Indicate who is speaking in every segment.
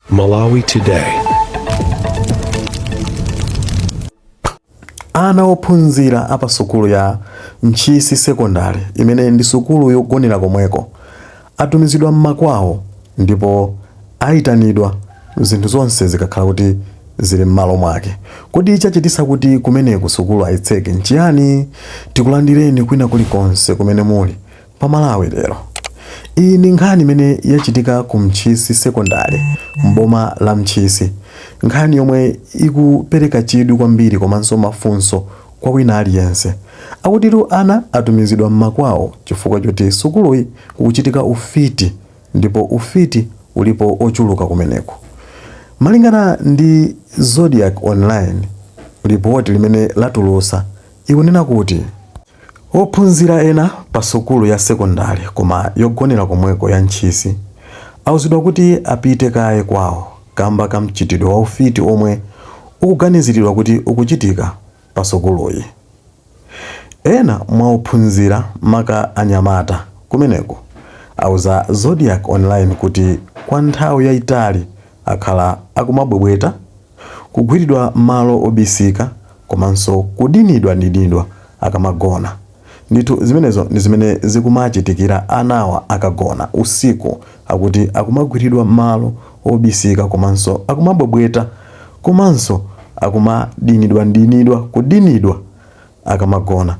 Speaker 1: Malawi
Speaker 2: Today. ana ophunzira a pa sukulu ya ntchisi sekondari imene ndi sukulu yogonera komweko atumizidwa mmakwawo ndipo ayitanidwa zinthu zonse zikakhala kuti zili m'malo mwake kodi chachitisa kuti kumeneku sukulu ayitseke nchiyani tikulandireni kwina kulikonse kumene muli Pa Malawi lero. Iyi ndi nkhani imene yachitika ku Ntchisi sekondale m'boma la Ntchisi. Nkhani yomwe ikupereka chidwi kwambiri komanso mafunso kwa wina aliyense. Akutitu ana atumizidwa m'makwawo chifukwa choti sukuluyi kukuchitika ufiti ndipo ufiti ulipo ochuluka kumeneku. Malingana ndi Zodiak Online, lipoti limene latulusa ikunena kuti. Ophunzira ena pa sukulu ya sekondale koma yogonera komweko ya Ntchisi auzidwa kuti apite kaye kwawo kamba ka mchitidwe wa ufiti omwe ukuganiziridwa kuti ukuchitika pa sukuluyi. Ena mwa ophunzira maka anyamata kumeneko auza Zodiak Online kuti kwa nthawi yaitali akhala akumabwebweta, kugwiridwa malo obisika komanso kudinidwadinidwa akamagona. Ndithu zimenezo ndi zimene zikumachitikira anawa akagona usiku akuti akumagwiridwa malo obisika komanso akumabwebweta komanso akumadinidwadinidwa, kudinidwa. akamagona,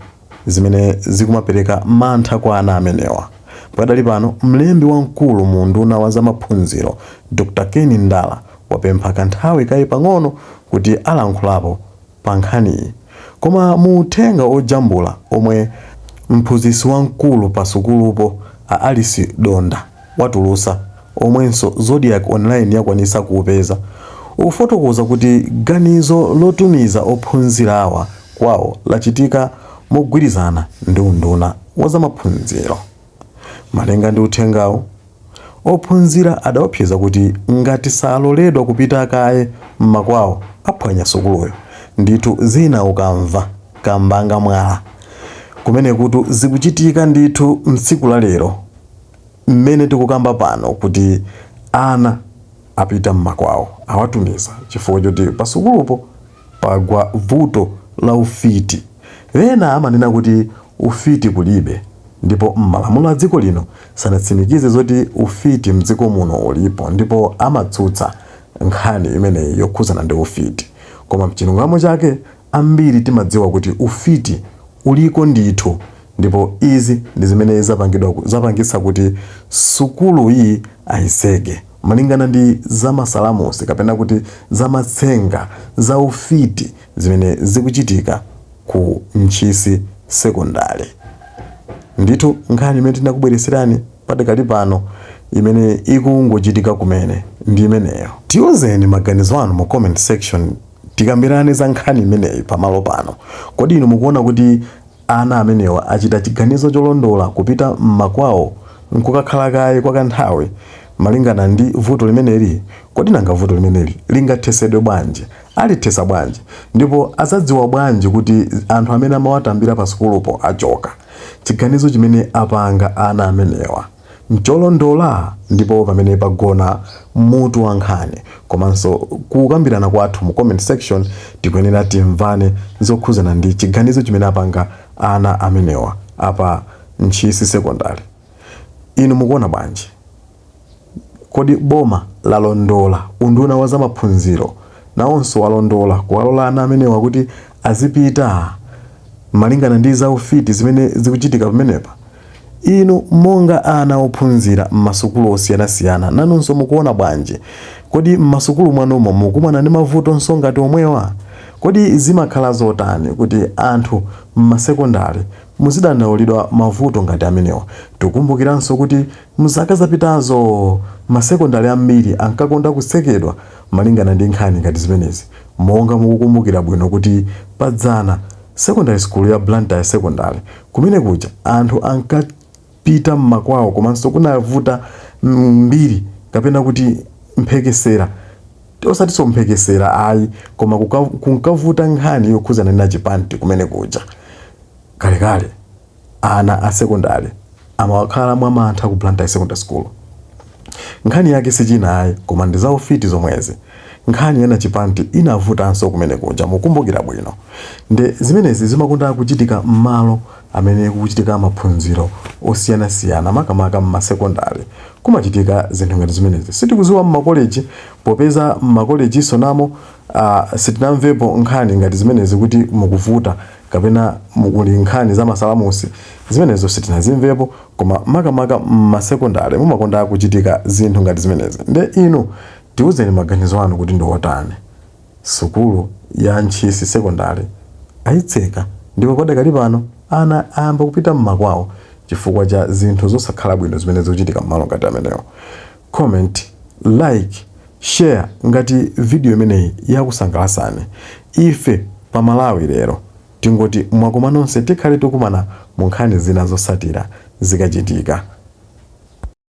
Speaker 2: zimene zikumapereka mantha kwa ana amenewa. Padakali pano, mlembi wamkulu mu unduna wa za maphunziro, Dr. Ken Ndala, wapempha kanthawi kaye pang'ono kuti alankhulapo pa nkhaniyi. Koma mu uthenga ojambula omwe mphunzitsi wamkulu pa sukulupo, a Alice Donda, watulutsa, omwenso Zodiak Online yakwanitsa kuupeza, ukufotokoza kuti ganizo lotumiza ophunzirawa kwawo lachitika mogwirizana ndi unduna wa zamaphunziro. Malinga ndi uthengawu, ophunzira adaopseza kuti ngati saloledwa kupita kaye m'makwawo aphwanya sukuluyo. Ndithu zina ukamva, kambanga mwala. Kumenekutu zikuchitika ndithu m'tsiku la lero. mmene tikukamba pano kuti ana apita mmakwawo awatumiza chifukwa choti pasukulupo pagwa vuto la ufiti ena amanena kuti ufiti kulibe ndipo mmalamulo adziko lino sanatsimikize zoti ufiti mdziko muno ulipo ndipo amatsutsa nkhani imeneyi yokhuzana ndi ufiti koma mchilungamo chake Ambiri timadziwa kuti ufiti uliko ndithu ndipo izi ndi zimene zapangidwa, zapangitsa kuti sukulu iyi ayitseke. Malingana ndi za masalamusi kapena kuti za matsenga za ufiti zimene zikuchitika ku Ntchisi sekondale. Ndithu nkhani imene tinakubweretserani padakali pano imene ikungochitika kumene ndi imeneyo. Tiuzeni maganizo anu mu comment section. Tikambirane za nkhani imeneyi pamalo pano. Kodi inu mukuona kuti ana amenewa achita chiganizo cholondola kupita m'makwawo n'kukakhala kaye kwa kanthawi? Malingana ndi vuto limeneli, kodi nanga vuto limeneli lingathesedwe bwanji? Alithesa bwanji? Ndipo azadziwa bwanji kuti anthu amene amawatambira pasukulupo achoka? Chiganizo chimene apanga ana amenewa. ncholondola, ndipo pamene pagona mutu wa nkhani komanso kukambirana kwathu mu comment section tikuyenera timvane zokhuzana ndi chiganizo chimene apanga ana amenewa a pa Ntchisi Secondary. Inu mukuona bwanji? Kodi boma lalondola, unduna wa zamaphunziro nawonso walondola kuwalola ana amenewa kuti azipita malingana ndi zaufiti zimene zikuchitika pamenepa? Inu monga ana ophunzira m'masukulu osiyanasiyana, nanunso mukuona bwanji? Kodi m'masukulu mwanumo mukumana ndi mavutonso ngati omwewa? Kodi zimakhala zotani kuti anthu m'masekondale muzidandaulidwa mavuto ngati amenewa? Tikumbukiranso kuti m'zaka zapitazo masekondale ambiri ankakonda kutsekedwa malingana ndi nkhani ngati zimenezi. Monga mukukumbukira bwino kuti padzana, sekondale sukulu ya Blantyre Secondary Kumene kuja anthu ankapita m'makwawo komanso kunavuta mbiri kapena kuti mphekesera, osatinso mphekesera ayi koma kunkavuta nkhani yokhuzana ndi Nachipanti kumene kuja. Kalekale ana a sekondale amawakhala mwamantha ku Blantyre Secondary School. Nkhani yake sichina ayi koma ndi za ufiti zomwezi. Nkhani ya Nachipanti inavutanso kumene kuja mukumbukira bwino nde zimenezi zimakonda kuchitika mmalo amene kukuchitika maphunziro osiyanasiyana makamaka mma sekondale kumachitika zinthu ngati zimenezi. Sitikuziwa mma koleji popeza mma kolejinso namo sitinamvepo nkhani ngati zimenezi kuti mukuvuta. kapena mukuli nkhani za masalamusi zimenezo sitinazimvepo koma makamaka mmasekondale mumakonda kuchitika zinthu ngati zimenezi nde inu tiuzeni maganizo anu kuti ndi otani? Sukulu ya Ntchisi Sekondale ayitseka ndipo padakali pano ana ayamba kupita mmakwawo chifukwa cha zinthu zosakhala bwino zimene zikuchitika mmalo ngati amenewo. comment, like, share ngati video imeneyi yakusangalasani. Ife pa Malawi lero tingoti mwakoma nonse tikhale tikumana mu nkhani zina zosatira zikachitika.